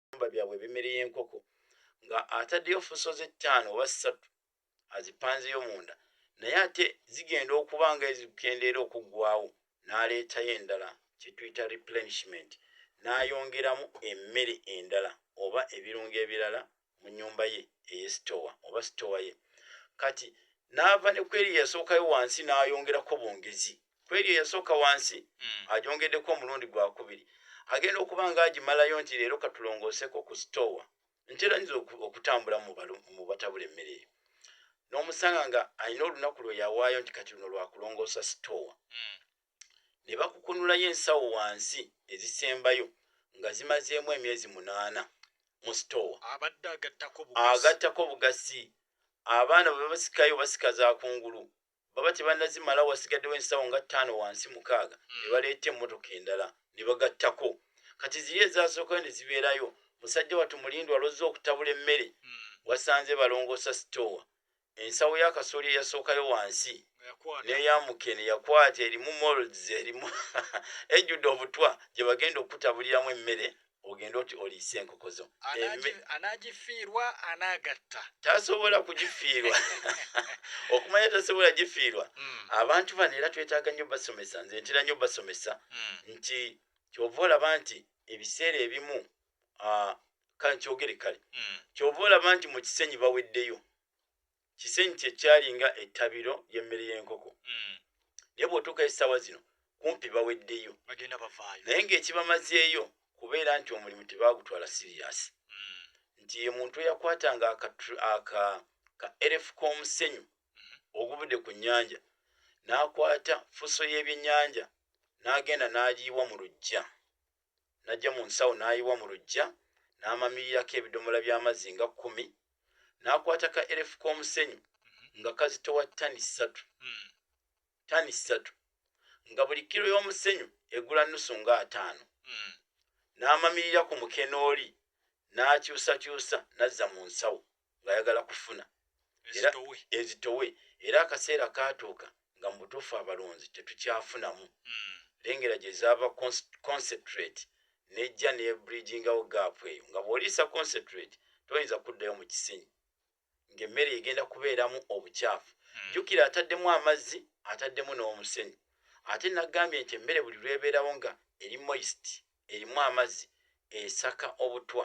ebiyumba byabwe ebimere y'enkoko nga ataddeyo fuso ze ttaano oba ssatu azipanzeyo munda naye ate zigenda okuba nga ezikendeera okuggwawo n'aleetayo endala kyetuyita replenishment n'ayongeramu emmere endala oba ebirungo ebirala mu nyumba ye eyesitowa oba sitowa ye kati n'ava ne kweri yasookayo wansi n'ayongerako bongezi kwebyo yasooka wansi mm. ajongeddeko omulundi gwakubiri agenda okuba nga agimalayo nti leero katulongooseko ku stowa ntera nyinza okutambula mu batabula emmere eyo n'omusanga nga alina olunaku lwe yawaayo nti kati luno lwakulongoosa stowa mm. ne bakukunulayo ensawo wansi ezisembayo nga zimazeemu emyezi munaana mu stowa agattako obugasi abaana bwe basikayo basika za kungulu baba tebannazimala wasigaddewo ensawo nga ttaano wansi mukaaga hmm. ne baleeta emmotoka endala ne bagattako kati ziri ezaasookayo ne zibeerayo musajja wattu mulindwa alozza okutabula emmere hmm. wasanze balongoosa sitoowa ensawo y'akasooli eyasookayo wansi neyamuke neyakwata erimu molds erimu ejjudde obutwa gye bagenda okukutabuliramu emmere ogende oti oliise enkoko zo anagifiirwa anagatta tasobola kugifiirwa okumanya tasobola gifiirwa hmm. abantu bano era twetaaga nnyo basomesa nze ntera nnyo basomesa hmm. nti kyova olaba nti ebiseera ebimu kankyogere kale hmm. kyova olaba nti mu kisenyi baweddeyo kisenyi kyekyalinga ettabiro ly'emmere y'enkoko mm. naye bw'otuuka essaawa zino kumpi baweddeyo naye ng'ekibamazeeyo kubeera nti omulimu tebaagutwala siriyasi mm. nti ye muntu eyakwatanga ka rf k'omusenyu mm-hmm. ogubudde ku nnyanja n'akwata fuso y'ebyennyanja n'agenda n'agiyiwa mu lujja n'aggya mu nsawo n'ayiwa mu luggya n'amamirirako ebidomola by'amazzi nga kkumi n'akwata ka erefu k'omusenyu nga kazitowa ttani ssatu ttani ssatu nga buli kiro y'omusenyu egula nnusu nga ataano n'amamirira ku mukenooli n'akyusakyusa n'azza mu nsawo ng'ayagala kufuna ezitowe era akaseera kaatuuka nga mu butuufu abalonzi tetukyafunamu hmm. lengera gye zaava concentrate nejja nebridgingawo gaapu eyo nga bw'oliisa concentrate toyinza kuddayo mu kisenyi ng'emmere egenda kubeeramu obukyafu hmm. jjukira ataddemu amazzi ataddemu n'omusenyi ate nagambye nti emmere buli lwebeerawo nga eri moist erimu amazzi esaka obutwa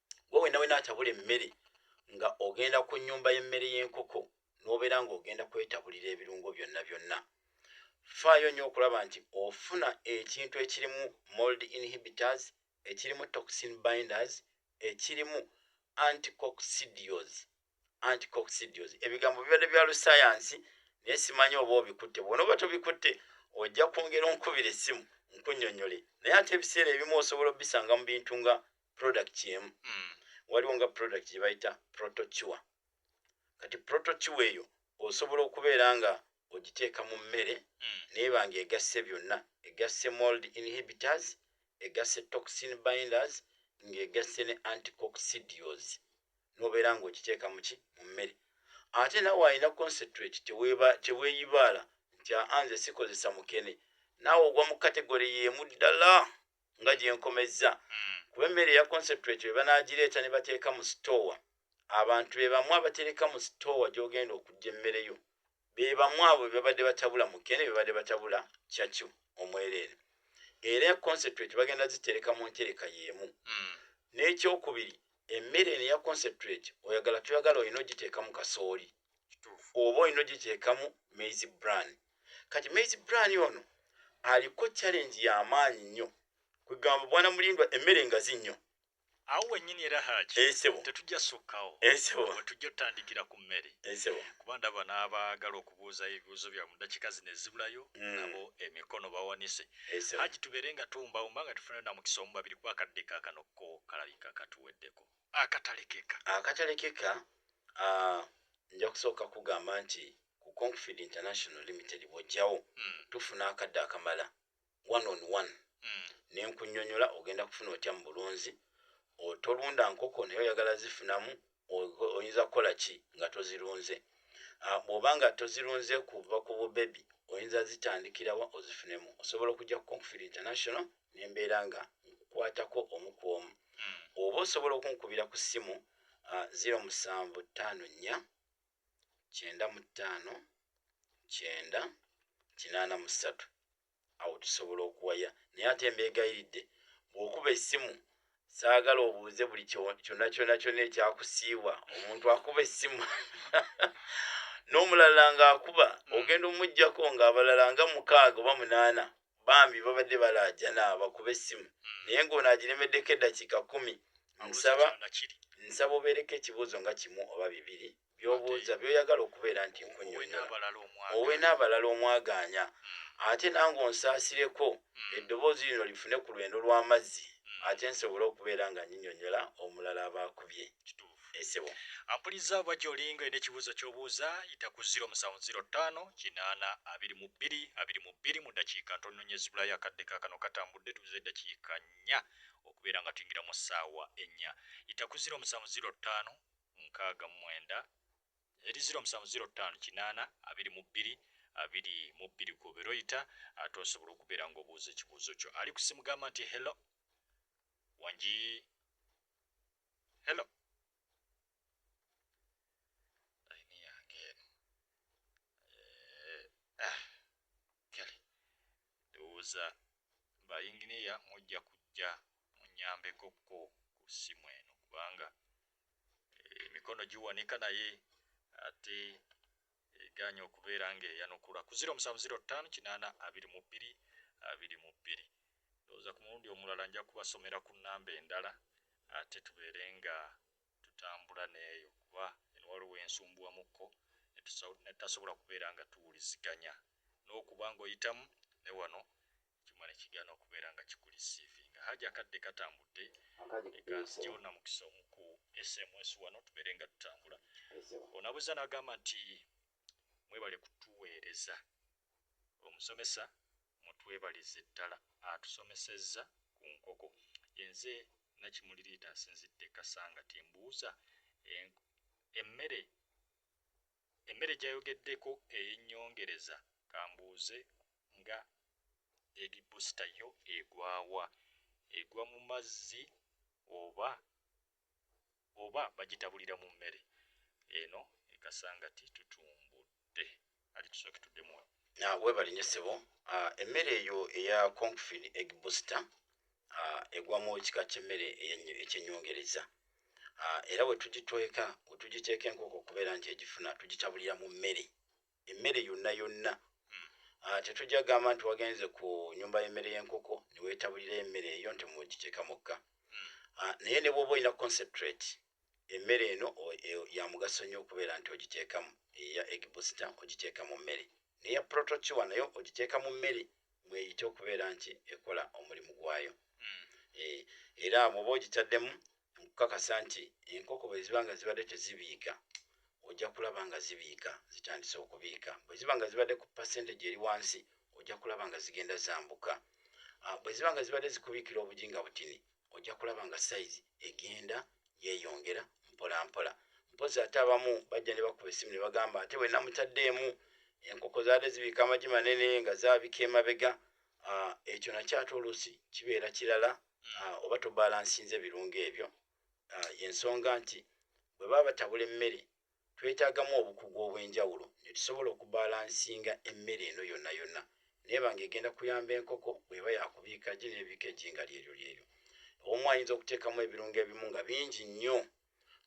we wena wena atabula emmere nga ogenda ku nyumba y'emmere y'enkoko n'obeera ng'ogenda kwetabulira ebirungo byonna byonna faayo nnyo okulaba nti ofuna ekintu ekirimu mold inhibitors ekirimu toxin binders ekirimu anticoxidios anticoxidios ebigambo bibadde bya lusayansi naye simanyi oba obikutte bwona oba tobikutte ojja kwongera onkubira essimu nkunyonyole naye ate ebiseera ebimu osobola obisanga mu bintu nga product emu mm. waliwo nga product gye bayita protocuwa kati protocuwa eyo osobola okubeera nga ogiteeka mu mmere mm. neeba nga egasse byonna egasse mold inhibitors egasse toxin binders ng'egasse ne anticoxidios nobeera nga ogiteeka muki mu mmere ate nawe alina concentrate teweeyibaala nti anze sikozesa mukene naawe ogwa mu kategore yeemu ddala nga gyenkomezza hmm. kuba emmere eya concentrate bwe banaagireeta ne bateeka mu sitoowa abantu be bamu abatereka mu sitoowa gy'ogenda okujja emmere yo be bamu abo be babadde batabula mukene be babadde batabula cakyo omwereere era concentrate bagenda zitereka mu ntereka y'emu hmm. n'ekyokubiri emmere eno eya concentrate oyagala toyagala olina ogiteeka mu kasooli oba olina ogigyekamu maize bran kati maize bran ono aliko challenge yamaanyi nnyo kwegamba bwana mulindwa emmere ngazi nnyo awo wenyini era haki esebo tetujja sukkawo esebo wetujja otandikira ku mmere esebo kuba ndaba n'abaagala okubuuza ebibuuzo byabwe mu dakika zino ezibulayo mm. nabo emikono bawanise haki tubeere nga tuwumbawumba nga tufunayo namukisa omu babiri kuba akadde kakano ko kalabika katuweddeko akatalekeka akatalekeka uh, nja kusooka kugamba nti ku confid international limited bwojjawo mm. tufuna akadde akamala one on one mm. nenkunyonyola ogenda kufuna otya mu bulunzi otolunda nkoko naye oyagala zifunamu oyinza kukola ki nga tozirunze ah, bwoba nga tozirunze kuva ku bubebi oyinza zitandikirawa ozifunemu osobola okujja ku confid international mm. ne mbeera nga nkukwatako omu ku omu hmm. oba osobola okunkubira ku ssimu 0754 95 kyenda kinaana mu ssatu awo tusobola okuwaya naye ate mbeegayiridde bw'okuba essimu saagala obuuze buli kyonna kyonna kyonna ekyakusiibwa omuntu akuba essimu n'omulala ng'akuba hmm. ogenda omuggyako ng'abalala nga mukaaga oba munaana bambi babadde balaajana bakube essimu hmm. naye ng'ono agiremeddeko eddakiika kumi nsaba nsaba obeereko ekibuuzo nga kimu oba bibiri byobuuza byoyagala okubeera nti nkunyonyola n'abalala omwagaanya hmm. ate nange onsaasireko hmm. eddoboozi lino lifune ku lwendo lw'amazzi ate nsobole okubeera nga nyinyonyola omulala abaakubye kituufu Esebo. Ampuliza oba gyolinga olina ekibuzo kyobuuza yita ku 0705822222 mu dakiika ntono nyo ezibulayo akadde kakano katambudde tubuze edakiika nya okubeera nga tuyingira mu saawa enya yita ku 070569 eri 0705822222 kubera oyita ate osobola okubeera nga obuuza ekibuuzo kyo ali kusimu gamba nti hello wangi Hello. Laini yange eno. Eh, ah, Kelly. Ndowooza ba yinginiya mujja kujja munyambeko ko ku ssimu eno kubanga eh, emikono giwanika naye ate egaanye okubeera ng'eyanukulwa ku ziro omusanvu ziro ttaano kinaana abiri mu bbiri abiri mu bbiri. Ndowooza ku mulundi omulala nja kubasomera ku nnamba endala ate tubeere nga tutambula n'eyo kuba eno waliwo we nsumbuwamukko ne tutasobola kubeera nga tuwuliziganya n'okuba ng'oyitamu ne wano ekyuma ne kigaana okubeera nga kikulisiivinga. Haji akadde katambudde ne kanzigyawo namukisa omu ku SMSU wano tubeere nga tutambula. Onabuuza n'agamba nti mwebale kutuweereza. Omusomesa mutwebalize ddala atusomesezza ku nkoko. Ye nze Nakimuli Riita nsinzidde Kasangati mbuuza emmere emmere gyayogeddeko eyennyongereza kambuuze nga baby booster yo egwa wa? Egwa mu mazzi oba oba bagitabulira mu mmere? Eno e Kasangati tutumbudde. Ali tusooke tuddemu wano. Weebale nnyo ssebo. Emmere eyo eya Confin Egg Booster ah, egwa mu kika ky'emmere ekyenyongereza ah, era wetugitweka wetugiteeka enkoko okubeera nti egifuna tugitabulira mu mmere emmere yonna yonna hmm. ah, tetujja gamba nti wagenze ku nyumba y'emmere y'enkoko newetabulira emmere eyo nti mugiteeka mukka hmm. naye ne bwoba olina concentrate Emmere eno yamugaso nnyo okubeera nti ogiteekamu eya egg booster ogiteeka mu mmere neya protocuwa naye ogiteeka mu mmere mweyite okubeera nti ekola omulimu gwayo hmm. eh, era bwoba ogitaddemu nkukakasa nti enkoko bweziba nga zibadde tezibiika ojja kulaba nga zibiika zitandise okubiika bweziba nga zibadde ku percentage eri wansi ojja kulaba nga zigenda zambuka ah, bweziba nga zibadde zikubiikira obujinga butini ojja kulaba nga sayizi egenda yeeyongera mpolampola mpozi ate abamu bajja ne bakuba essimu ne bagamba ate bwe namutaddeemu enkoko zaali zibiika amagi manene nga zaabika emabega ah, ekyo nakyo ate oluusi kibeera kirala hmm. ah, oba tobalansinze ebirungo ebyo ah, yensonga nti bwe baba batabula emmere twetaagamu obukugu obw'enjawulo ne tusobola okubalansinga emmere eno yonna yonna n'eba ng'egenda kuyamba enkoko bw'eba yakubiika ggi n'ebiika eggi nga lyeryo lyeryo. Omu ayinza okuteekamu ebirungo ebimu nga bingi nnyo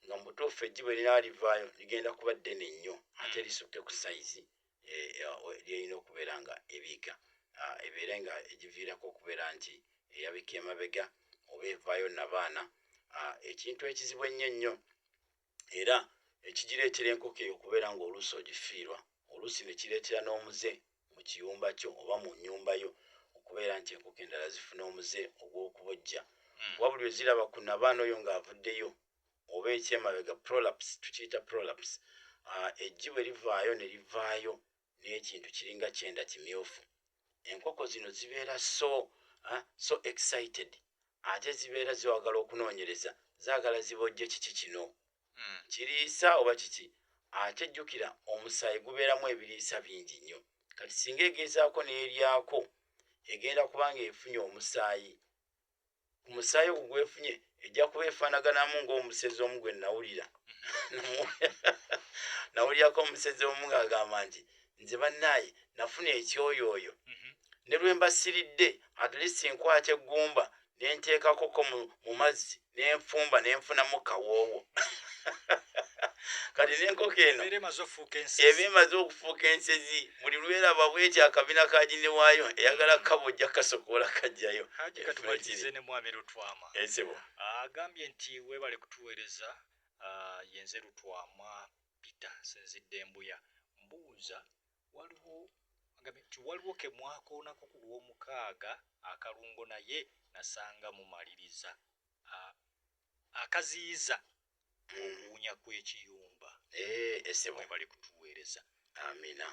nga mu butuufu eggi bwe linaaba livaayo ligenda kuba ddene nnyo ate hmm. lisukke ku sayizi eh, eh, lyerina okubeera nga ebiika ah, ebeere nga egiviirako okubeera nti eyabika emabega oba evaayo nabaana ah, ekintu ekizibu ennyo ennyo era ne kigireetera enkoko eyo okubeera ng'oluusi ogifiirwa, oluusi ne kireetera n'omuze mu kiyumba kyo oba mu nnyumba yo okubeera nti enkoko endala zifuna omuze ogw'okubojja hmm. kuba buli lwe ziraba ku nabaana oyo ng'avuddeyo oba ekyemabega prolaps tukiyita prolaps ah, eggi bwe livaayo ne livaayo n'ekintu kiringa kyenda kimyufu enkoko zino zibeera so ah, so excited ate zibeera ziwagala okunoonyereza zaagala zibojje kiki kino hmm. kiriisa oba kiki ate jjukira omusaayi gubeeramu ebiriisa bingi nnyo kati singa egezaako n'eryako egenda kubanga efunye omusaayi ku musaayi ogwo gwefunye ejja kuba efaanaganamu ng'omusezi omu gwe nawulira nawulirako omusezi omu ng'agamba nti nze bannaaye nafuna ekyoyooyo mhm. ne lwe mbasiridde atlist nkwata eggumba ne nteekakoko mu mazzi ne nfumba ne nfunamu kawoowo kati nenkoko eno eba emaze okufuuka ensezi buli lwelaba bweti akabina ka jini wayo eyagala mm. kabo ojja kasokoola kajjayo katubalize ne mwami lutwama ezibo ah, agambye nti webale kutuweereza ah, yenze lutwama pita sinzidde embuya mbuuza waliwo agambye nti waliwo kemwakoonako ku lwomukaaga akalungo naye nasanga mumaliriza ah, akaziyiza okuwunya kw'ekiyumba esebo webale kutuweereza amina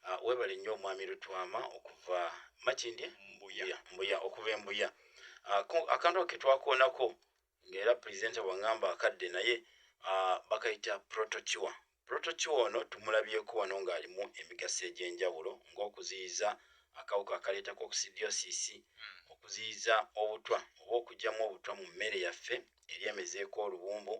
ah, webale nnyo omwami lutwama okuva makindye mbuya mbuya okuva embuya ah, akantu ke twakoonako ngaera presenta bwangamba akadde naye ah, bakayita protokiwa Protoci ono tumulabyeko wano ng'alimu emigaso egy'enjawulo ng'okuziyiza akawuka akaleeta kokisidiyosiisi, okuziyiza obutwa oba okuggyamu obutwa mu mmere yaffe eri emezeeko oluwumbu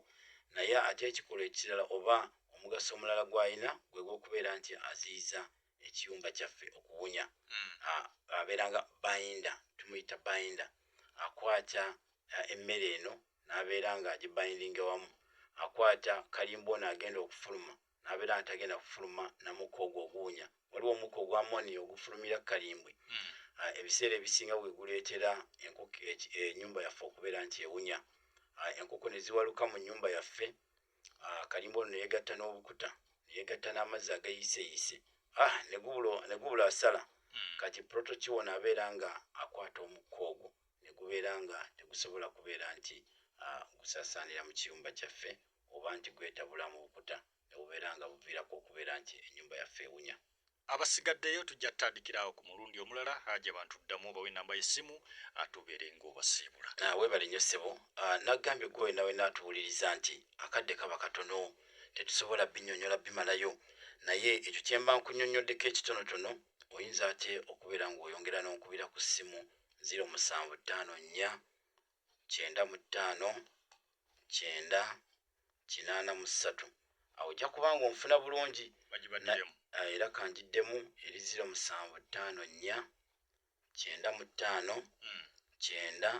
naye ate ekikolwa ekirala oba omugaso omulala gw'alina gwe gw'okubeera nti aziyiza ekiyumba kyaffe okuwunya. Abeera nga binder, tumuyita binder, akwata emmere eno nabeera nga agibindinge wamu akwata kalimba ono agenda okufuluma nabeera nga tagenda kufuluma namukka ogwo oguwunya waliwo omukka ogwa moni ogufulumira kukalimbwe hmm. ah, ebiseera ebisinga weguleetera enkoko enyumba eh, yaffe okubeera nti ewunya ah, enkoko neziwaluka mu nyumba yaffe ah, kalimba ono neyegatta n'obukuta neyegatta n'amazzi ageyiseyise negubula asala hmm. kati protokiwona abeera nga akwata omukka ogwo ne gubeera nga tegusobola kubeera nti gusaasaanira mu kiyumba kyaffe oba nti gwetabula mu bukuta ne bubeera nga buviirako okubeera nti ennyumba yaffe ewunya. Abasigaddeyo tujja kutandikira awo ku mulundi omulala, Haji abantu ddamu obawe ennamba y'essimu ate obeere ng'obasiibula. Weebale nnyo ssebo. Nagambye ggwe wenawenna atuwuliriza nti akadde kaba katono tetusobola binnyonnyola bimalayo naye ekyo kye mba nkunnyonnyoddeko ekitonotono oyinza ate okubeera ng'oyongera n'onkubira ku ssimu ziro musanvu ttaano nnya kyenda mu ttaano kyenda kinaana mu ssatu awo ojja kuba nga onfuna bulungi eh, era kanjiddemu eri ziro musanvu ttaano nnya kyenda mu ttaano hmm. kyenda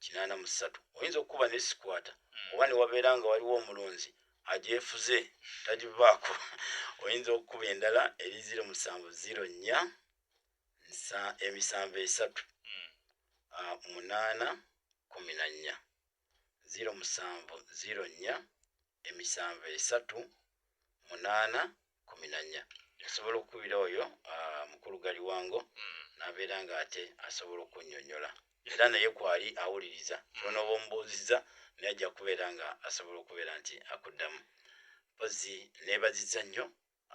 kinaana mu ssatu oyinza okukuba nesikwata hmm. oba newabeera nga waliwo omulunzi agyefuze tagivaako oyinza okukuba endala eri ziro musanvu ziro nnya nsa emisanvu esatu mm. uh, munaana kumi na nnya ziro musanvu ziro nnya emisanvu esatu munaana kumi na nnya asobola okukubira oyo ah, mukulu gali wango mm. nabeera nga ate asobola okunyonyola era naye kwali awuliriza kyona mm. oba omubuuziza naye ajja kubeera nga asobola okubeera nti akuddamu mpozi nebaziza nnyo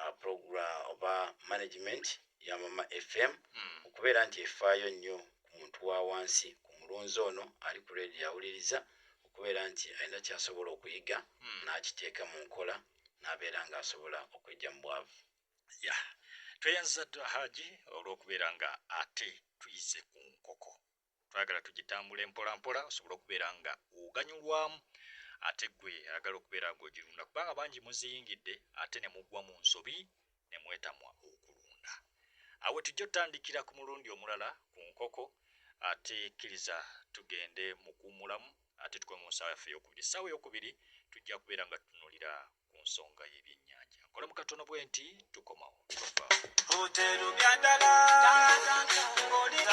uh, program oba management ya mama fm mm. okubeera nti efaayo nnyo ku muntu wa wansi ku mulunzi ono ali ku redio yawuliriza okubeera nti alina kyasobola okuyiga mm. n'akiteeka mu nkola n'abeera ng'asobola okwejja mu bwavu ya tweyanziza ddala haji olw'okubeera nga ate tuyize ku nkoko twagala tugitambule mpola mpola osobole okubeera nga oganyulwamu ate gwe ayagala okubeera nga ogirunda kubanga bangi muziyingidde ate ne mugwa mu nsobi ne mwetamwa okulunda awe tujja otandikira ku mulundi omulala ku nkoko ate kkiriza tugende mukuwumulamu ate tukoe mu nsaawa yaffe eyokubiri essaawa eyokubiri tujja kubeera nga tutunulira ku nsonga y'ebyennyanja nkolamu katono bwe nti tukomawo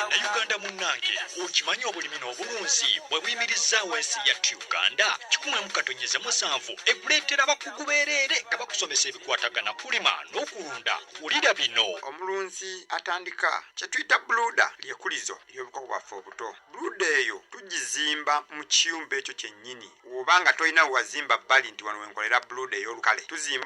nauganda munnange okimanyi obulimi n'obulunzi bwe buyimirizaawo ensi yattu uganda kikumwemu katonyeze musanvu ekuleetera abakugu beereere nga bakusomesa ebikwatagana kulima n'okulunda wulira bino omulunzi atandika kye tuyita buluda lyekulizo ly'obukoko bwaffe obuto Bluda eyo tugizimba mu kiyumba ekyo kyennyini, woba nga tolina wewazimba bbali nti wano wenkolera bluda eyolukale tuzimba.